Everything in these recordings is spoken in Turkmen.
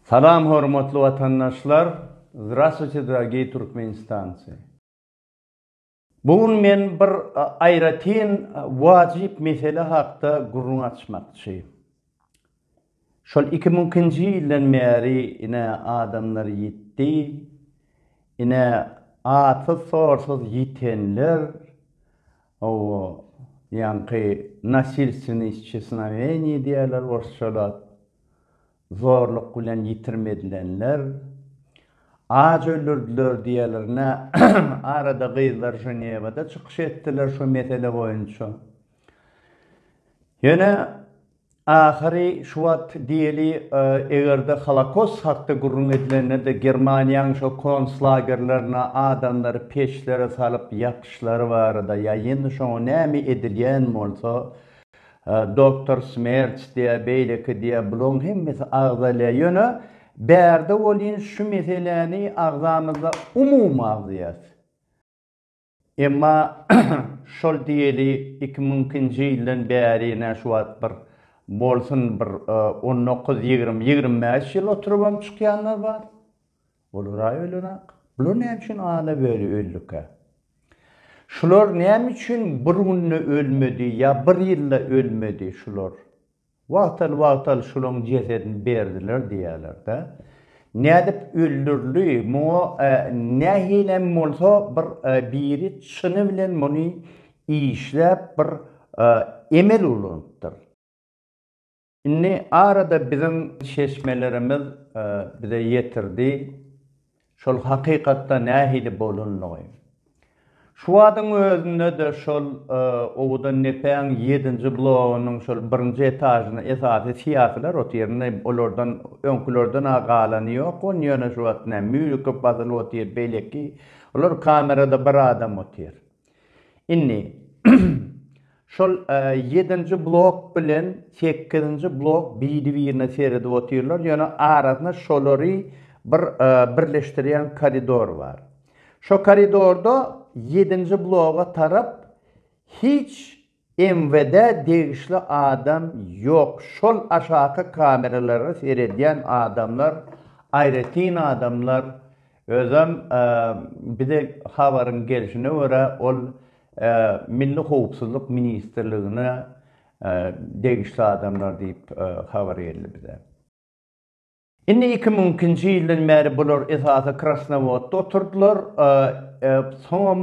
Salam hormatly watandaşlar Zdrastwuyte dragii Turkmenistanci. Bu gün men bir aýratyn wajyp mesele hakda gürrüň açmakçy. Şol iki müňkinji ýyldan bäri ine adamlar ýitdi, ine atsyz sorsuz ýitenler owo ýaňky nasilstweniý isçesnaweniý diýýärler orsçalap Zorluk bilen ýitirim edilenler aç öldürdiler diýerlerine arada gyzlar Ženewada çykyş etdiler şu mesele boýunça. Ýöne ahyry şu wagt diýeli egerde holokost hakda gürrüň edilende-de Germaniýanyň şo konslagerlerine adamlary peçlere salyp ýakyşlary barada ýa ýene şoňa näme edilýän bolsa, Doktor Smerç diýä, beýleki diýä, bulaň hemmesi agzalýa, ýöne bärde welin şu meseläni agzamyzda umumy agzaýas. Emma şol diýeli iki müň nji ýyldan bäri nä şu wagt bir bolsun bir on dokuz, ýigrimi, ýigrimi bäş ýyl oturybam çykýanlar bar. Olara öýlenak. Bular näme üçin ana böri öldükä? Şular näme üçin bir günde ölmedi ýa bir ýylda ölmedi şular? Wagtal-wagtal şulaň jesedini berdiler diýýäler-dä. Nädip öldürli, muňa nähilem bolsa bir biri çyny bilen muny işläp bir emel ulanypdyr. Indi arada biziň çeşmelerimiz bize ýetirdi şol hakykatda nähili bolandygy. Şu wadyň özünde-de şol owadan depäň ýedinji blogynyň şol birinji etažyny esasy syýasylar otyryn, olardan öňkülerden-ä galany ýok, ony ýöne şu wagt nä mýuzikl basylyp otyr, beýleki, olar kamerada bir adam otyr. Indi şol ýedinji blok bilen sekizinji blok biri-birine seredip otyrlar, ýöne arasynda şolary bir birleşdirýän koridor bar. Şo koridorda ýedinji bloga tarap hiç MWD degişli adam ýok şol aşaky kameralara seredýän adamlar aýratyn adamlar özem bize habaryň gelşine görä ol milli howpsuzlyk ministrligine degişli adamlar diýip habar geldi bize. Indi iki müň ikinji ýyldan bäri bular esasy Krasnowodda oturdylar, soňam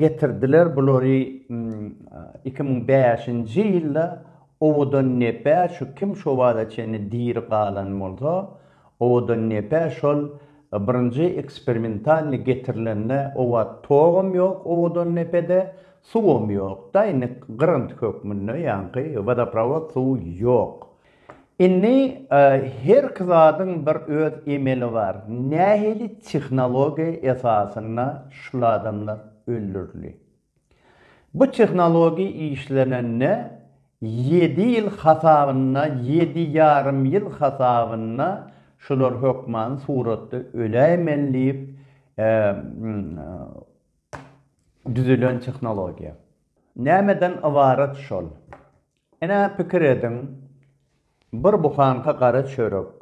getirdiler bulary iki müň bäşinji ýylda owadan nepä şu kim şu bada çenli diri galan bolsa owadan nepä şol birinji eksperimentalny getirilende oba togam ýok owadan nepede suwam ýok daýnik gyrynty hökmünde ýaňky wodoprawod suw ýok Indi herki zadyň bir öz emeli bar. Nähili tehnologiýa esasynda şul adamlar öldürildi? Bu tehnologiýa işlenende ýedi ýyl hasabynda, ýedi ýarym ýyl hasabynda şular hökman suratda öläýmeli diýip düzülen tehnologiýa. Nämeden ybarat şol? Ine, pikir ediň, bir buhanka gara çörek,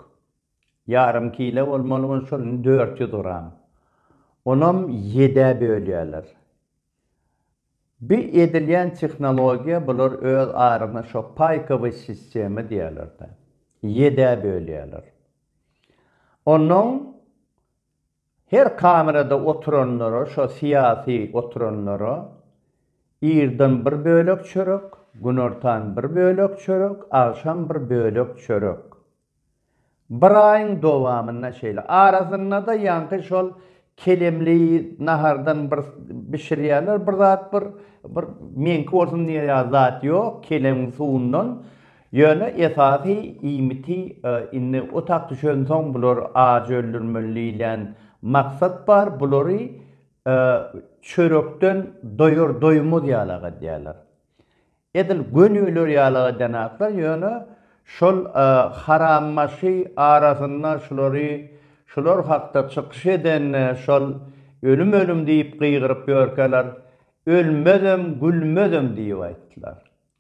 ýarym kile bolmaly bolup, şol indi dört ýüz gram. Onam ýedä bölýärler. Bu edilýän tehnologiýa, bular öz arasyna şo paýkowy sistema diýýärler-de, ýedä bölýärler. Onnoň Her kamerada oturanlara şo syýasy oturanlara irden bir bölek çörek, günortan bir bölek çörek, agşam bir bölek çörek. Bir aýyň dowamynda şeýle. Arasyndada ýaňky şol kelemli nahardan bir bişirýärler bir zat bir bir meňki bolsun diýýär ýa zat ýok keleň suwundan. Ýöne esasy iýmiti indi otag düşensoň bular aç öldürmeli diýlen maksat bar, bulary çörekden doýar-doýmaz ýalak edýärler. Edil gönüler ýalak edýänaklar, ýöne şol harambaşy arasynda şulary şular hakda çykyş eden şol ölüm-ölüm diýip gygyryp ýörkäler, ölmezem, gülmezem diýip aýtdylar.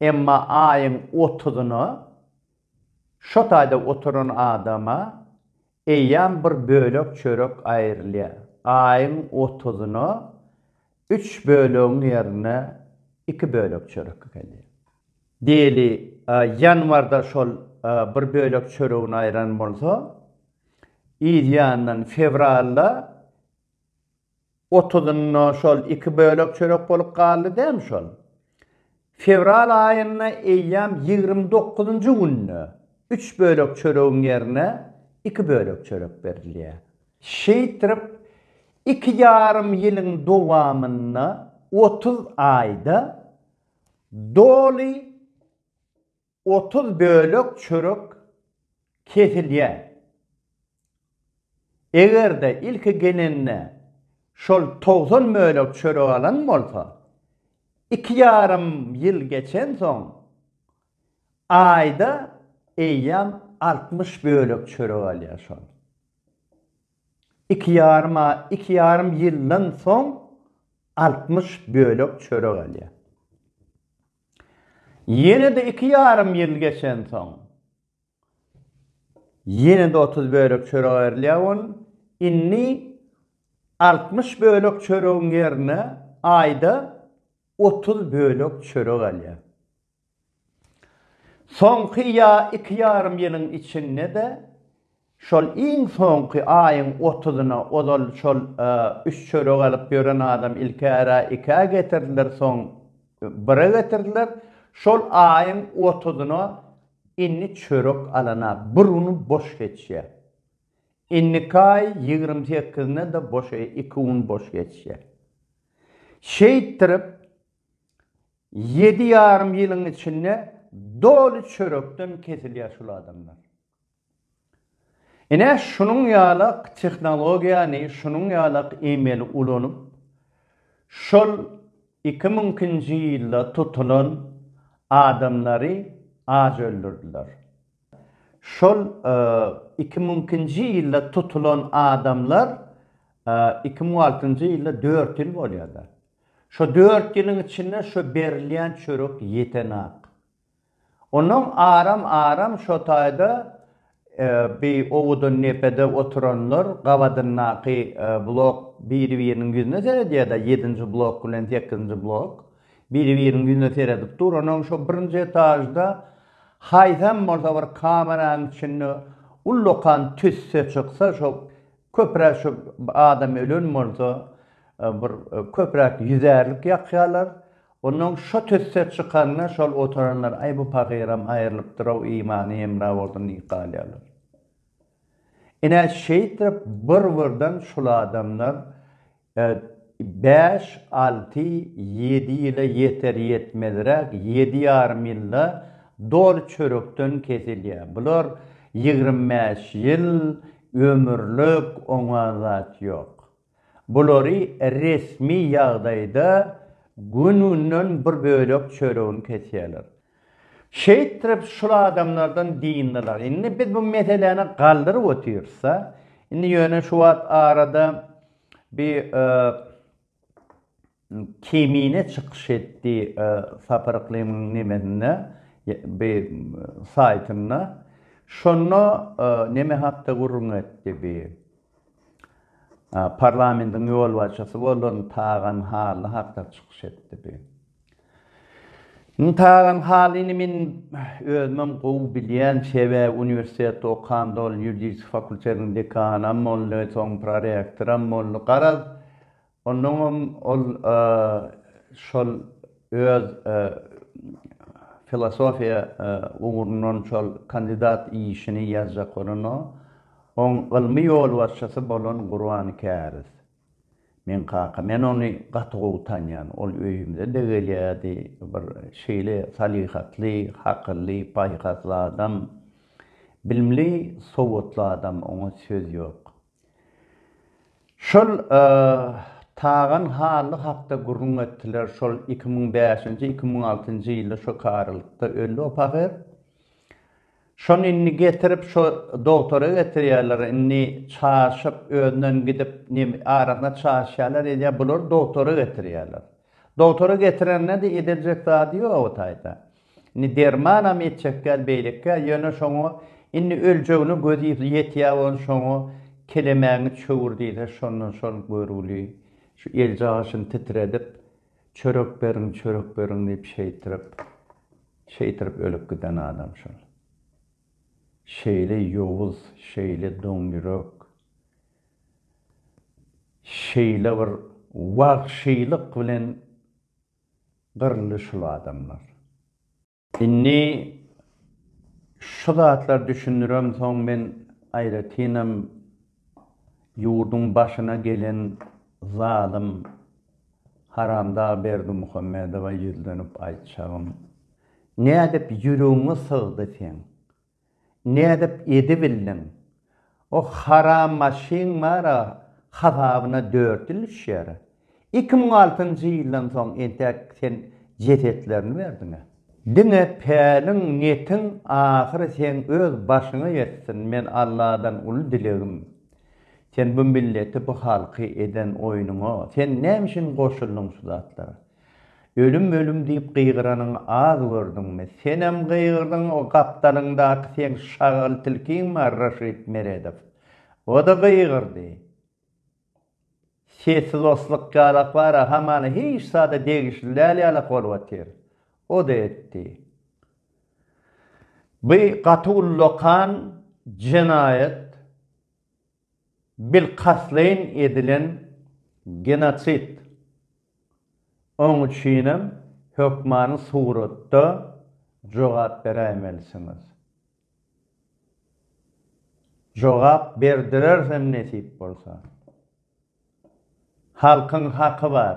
Emma aýyň otuzyna şo taýda oturan adama eýýäm bir bölek çörek aýrylýar. Aýyň otuzyna üç bölegiň ýerine iki bölek çörek gelýär. Diýeli, ýanwarda şol bir bölek çöregini aýran bolsa, yzýandan fewralda Otuzynda şol iki bölek çörek bolup galdy dämi şol. Fewral aýynda eýýäm ýigrimi dokuzynjy günde üç bölek çöregiň ýerine iki bölek çörek berilýär. Şeýtrip iki ýarym ýylyň dowamynda otuz aýda doly Otuz bölek çörek kesilýär. Eger-de ilki gelende şol togsan bölek çörek alan bolsa, iki ýarym ýyl geçensoň, aýda eýýäm altmyş bölek çörek alýar. Şol iki ýarym aý, iki ýarym ýyldan soň altmyş bölek çörek alýar. Ýene-de iki ýarym ýyl geçensoň, ýene-de otuz bölek çörek aýrylýar on, indi altmyş bölek çöregiň ýerine aýda otuz bölek çörek alýar. Soňky ýa iki ýarym ýylyň içinde-de Şol iň soňky aýyň otuzyna ozal şol üç çörek alyp ýören adam ilkära ikä getirdiler, soň bire getirdiler. Şol aýyň otuzyna indi çörek alana bir uny boş geçýär. Indiki aý ýigrimi sekizine-de boş iki un boş geçýär. Şeýtdirip, ýedi ýarym ýylyň içinde doly çörekden kesilýär şul adamlar. Ine, şunuň ýalak tehnologiýany, şunuň ýalak emeli ulanyp, şol iki müňkinji ýylda tutulan adamlary aç öldürdiler. Şol iki müňkinji ýylda tutulan adamlar iki müň altynjy ýylda dört ýyl bolýar-da. Şo dört ýylyň içinde şo berilýän çörek ýetenok. Onuň aram-aram şo taýda bi owudan depede oturanlar gabadyndaky blok biri-biriniň ýüzüne seredýär-de, ýedinji blok bilen sekizinji blok biri-biriniň ýüzüne seredip dur, onuň şo birinji etažda haýsam bolsa bir kameranyň içinde ullakan tüsse çyksa, şo köpräk şo adam ölen bolsa, bir köpräk ýüzärlik ýakýarlar, Onnoň şo tüsse çykanda şol oturanlar aý bu pagyram aýrylypdyr-ow imany hemra bolsun diýip galýarlar. Ine şeýdip bir-birden şul adamlar bäş, alty, ýedi ýyla ýeter-ýetmezräk ýedi ýarym ýylda doly çörekden kesilýär. Bular ýigrimi bäş ýyl ömürlik oňa zat ýok. Bulary resmi ýagdaýda gün-günden bir bölek çöregini kesýärler. Şeýtrip şul adamlardan dyndylar. Indi biz bu meseläni galdyryp otyrys-a. Indi ýöne şu wagt arada bir. Kemine çykyş etdi Sapar Yklymyň nemesinde bi saýtynda şonda neme hakda gürrüň etdi bi parlamentiň ýolbaşçysy bolan Tagan Hally hakda çykyş etdi bi. Indi Tagan Hallyny men özümem gowy bilýän sebäbi uniwersitetde okanda ol ýuridik fakultetiň dekanam boldy soň prorektoram boldy garaz Onnoňam ol şol öz filosofiýa ugrundan şol kandidat işini ýazjak bolanda, oň ylmy ýolbaşçysy bolan Gurban Käriz, meň kaka. Men ony gaty gowy tanýan. Ol öýümize-de gelýärdi. Bir şeýle salyhatly, hakylly, paýhasly adam. Bilimli, sowatly adam, oňa söz ýok. Şol Tagan Hally hakda gürrüň etdiler, şol iki müň bäşinji, iki müň altynjy ýylda şo karalykda öldi o pahyr. Şony indi getirip şo dogtora getirýärler, indi çaşyp özünden gidip nem arasyna çaşýarlar edýär, bulary dogtora getirýärler. Dogtora getirende-de ediljek zady ýok o taýda. Indi dermanam etjek däl beýlekkä ýöne şoňa indi öljegine gözi ýetýä bolan şoňa kelemäňi çöwür diýse şondan şol görgüli şu eljaşyny titredip çörek beriň çörek beriň diýip şeýtirip şeýtirip ölüp giden adam şol. Şeýle ýowuz şeýle doňýürek şeýle bir wagşylyk bilen Gyryldy şul adamlar. Indi şu zatlar düşündirem soň men aýratynam ýurduň başyna gelen zalym haramdag Berdimuhamedowa ýüzlenip aýtjagym, nädip ýüregiňe sygdy seň Nädip edibildiň? O haram maşyn bar-a, hasabyna dört ýyl düşýär. Iki müň altynjy ýyldan soň entek sen jesetlerini berdiň-ä. Diňe päliň, netiň ahyry seň öz başyňa ýetsin, men Alladan uly dilegim, sen bu milleti, bu halky eden oýnuňa, sen näme üçin goşuldyň şu zatlara? Ölüm ölüm diýip gygyranyňy az gördüňmi? Senem gygyrdyň o gapdalyňdaky seň şagal tilkiň bar Raşid Meredow. O-da gygyrdy. Sesi loslyk ýalak bar-a hamana hiç zada degişli däl ýalak bolup otyr. O-da etdi. By gaty ullakan jenaýat. Bilkastleýin edilen genosid. Oň üçinem hökmany suratda jogap beräýmelisiňiz. Jogap berdirersem nesip bolsa. Halkyň haky bar.